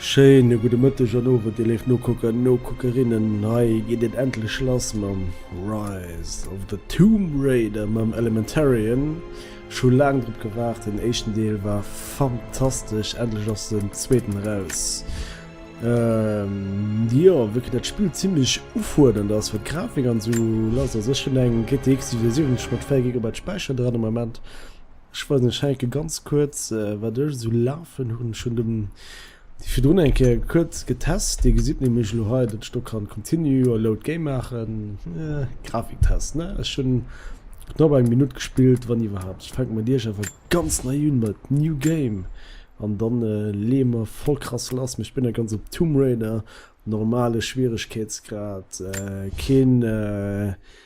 Schéine gudde Mëtteg an Owend, dir léif Nokucker an Nokuckerinnen. Hei geet et endlech lass mam Rise of the Tomb Raider, mam Elementarian. Scho laang drop gewaart, den éischten Deel war fantastesch, endlech ass den zweeten eraus. Jo, wéi kënnt dat Spill zimlech ufuerdernd ass, wat d'Grafik an esou lass ass. Ech hunn eng GTX 770 mat 4 Gigabyte Späicher dran am Moment. Ech weisen ech heinke ganz kuerz wat ech esou lafen hunn. Ech hunn dem déi virdrun eng Kéier kuerz getest. Dir gesitt nämlech elo hei, datt ech do kann Continue a Load Game maachen. Grafiktest ne? Ech hunn knapp eng Minutt gespillt, wann iwwerhaapt. Ech fänke mat Iech awer ganz nei un mat New Game an da leeë mer voll krass lass. Mee ech binn nach ganz op Tomb Raider, normale Schwieregkeetsgrad, keen.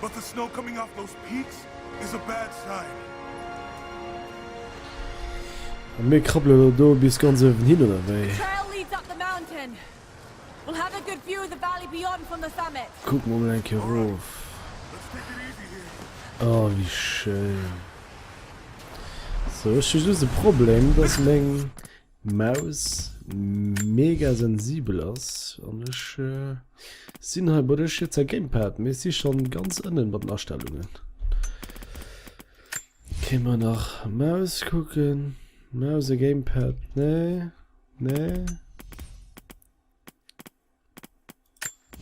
But the snow coming off those peaks is a bad sign. A mir krabbele lo do bis ganz uewen hin, oder wéi? Kucke mer mol eng Kéier erof. Oh, wéi schéin. Sou, ech hu just e Problem, dass meng. Maus mega sensibel ass an ech sinn hei bei dech jetzer Gamepad mee si schon ganz ënnen bei den Astellungen. Ginn mer nach Maus kucken, Maus a Gamepad nee nee.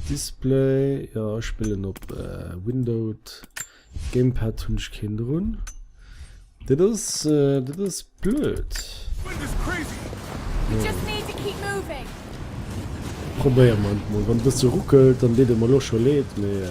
Display jo ech spillen op Windowed Gamepad hunn ech keen drun. Dat ass dat ass blöd. Probéieren mer et mol, wann e bësse ruckelt dann deet et mer elo scho leed mee.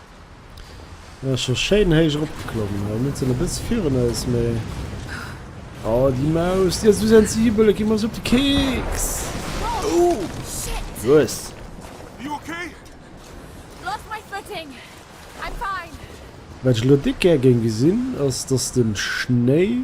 Ass scho schéin héich eropgeklommen. Elo net sinn e bësse virun eis, mee. Oh, déi Maus, déi ass esou sensibel, et geet mer esou op de Keks. Oh, shit! Los! You okay? Lost my footing. I'm fine. Wat ech elo déck gär géing gesinn, ass, dass de Schnéi.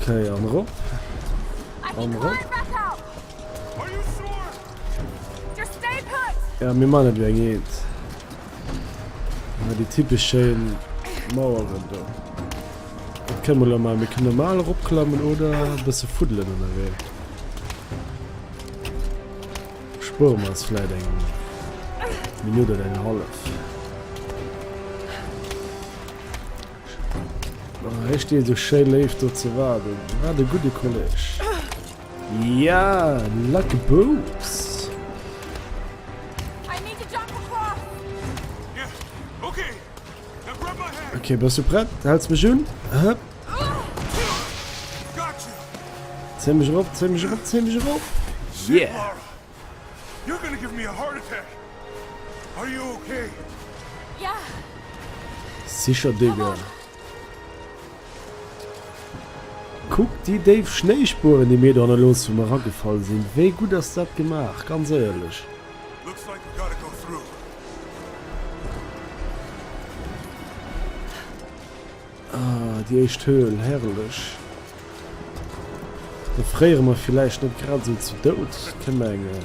Okay, an rop. An rop. Ja, mir man net wéi eng eent. Ja, déi typeschen Maueren do. Dat kënne mer mal, mir kënne mal eropklammen oder e bësse fuddelen ënnerwee. Spueren wir uns vielleicht eine Minute oder eine halbe. Hie steet esou schéi léif do ze waarden. Wat e gudde Kolleg. Ja, lacke Boups! Okay, bas du prett? Häls mech un? Hëpp! Zéi mech erop, zéi mech erop, zéi mech erop! Yeah! You're gonna give me a heart attack! Are you okay? Ja! Sicher Digga! Kuck déi déif Schnéispueren déi mir do hanne loossen wou mer eragefall sinn! Wéi gutt ass dat gemaach, ganz éierlech! Ah, déi éischt Höhl, herrlech. Do fréiere mer villäicht net grad esou zu Doud, ke mengen.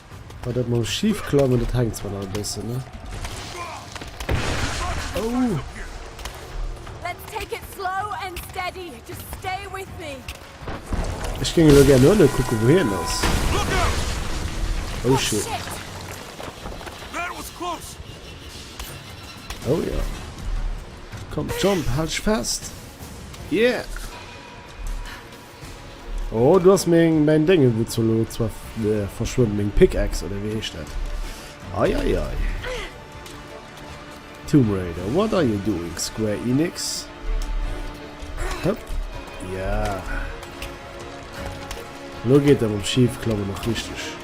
Bei dat mam schief klammen, dat hänkt zwar nach e bëssen, ne? Oh! Ech géing elo gär no ënne kucken, wou hien ass. Oh shit. Oh ja. Komm, jump, halt dich fest. Yeah! Oh, do ass meng, mäin Déngen, wou zur Not zwar verschwënnt, meng Pickaxe, oder wéi heescht dat? Ei, ei, ei. Tomb Raider, what are you doing, Square Enix? Hëpp, ja. Lo geet dat mam Schiefklammen och richteg.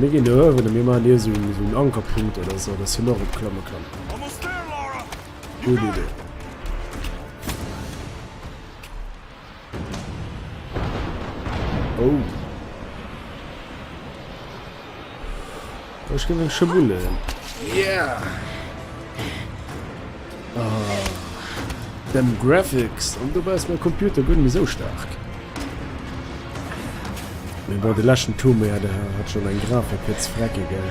Mir ginn do huewen a mir man dir sinn sou un Ankerpunkt oder sou, datt hien och op klamme kann. Gutt Idee. Oh. Ech ginn eng Schëbulle. Yeah! Ah. Dem Graphics. An dobäi ass mein Computer guer net méi sou staark. Mee bon, de leschten Tomb Raider hat schonn eng Grafik fir ze frecken, gell?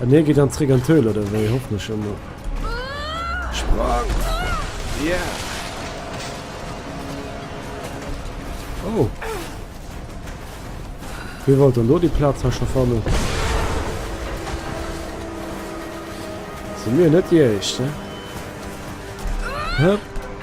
An hie geet an zréck an d'Höhl, oder wéi? Hoffen ech emol. Sprang! Ja! Oh! Wie wollt dann do déi Plaz ha scho fannen? Sinn mir net déi Éischt, ne? Höpp!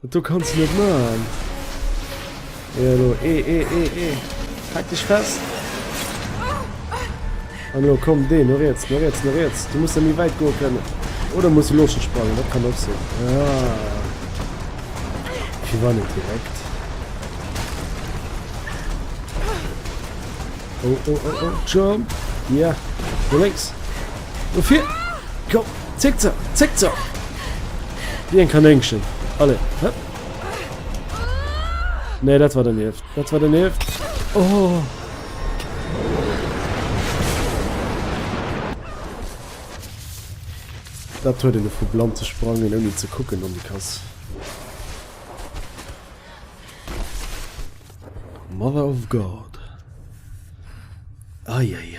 Dat do kanns de net maachen. Ee elo, ee, ee, ee, ee. Hak dech fest. An elo komm, deen, no riets, no riets, no riets. Du muss da méi wäit goe kënnen. Oder muss du looschen sprangen, dat kann och sinn. Ja. Fir war net direkt. Oh, oh, oh, oh, jump. Ja, no lénks. Dofir, komm, zéck ze, zéck ze! Wéi eng Kanéngchen. Allez, hëpp! Nee, dat war donieft. Dat war donieft. Oh! Dat huet een vu blann ze sprangen, ouni ze kucken an déi Kass. Mother of God. Eieiei.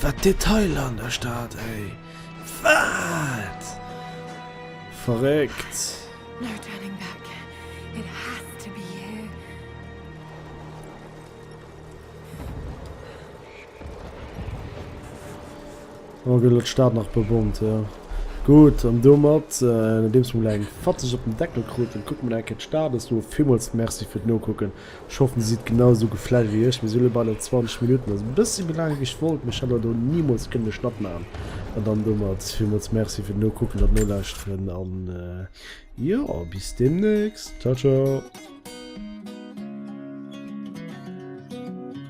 Wat Detailer an der Stad ey! Wat verréckt! Oh gëtt elo d'Stad nach bebommt jo gutt an domat nodeems mer mol eng fatzeg op den Deckel kruten kucke mer nach eng Kéier d'Stad. Ass do villmools Merci fir d'Nokucken. Ech hoffen dir sidd genau sou geflasht wéi ech. Mir si lo bei den 20 Minutten, also e bëssi méi laang wéi ech wollt, mee ech hätt awer do nimools kënnen de Schnatt maachen. An dann domat villmools Merci fir d'Nokucken an d'Nolauschteren an jo, bis deemnächst. Ciao ciao.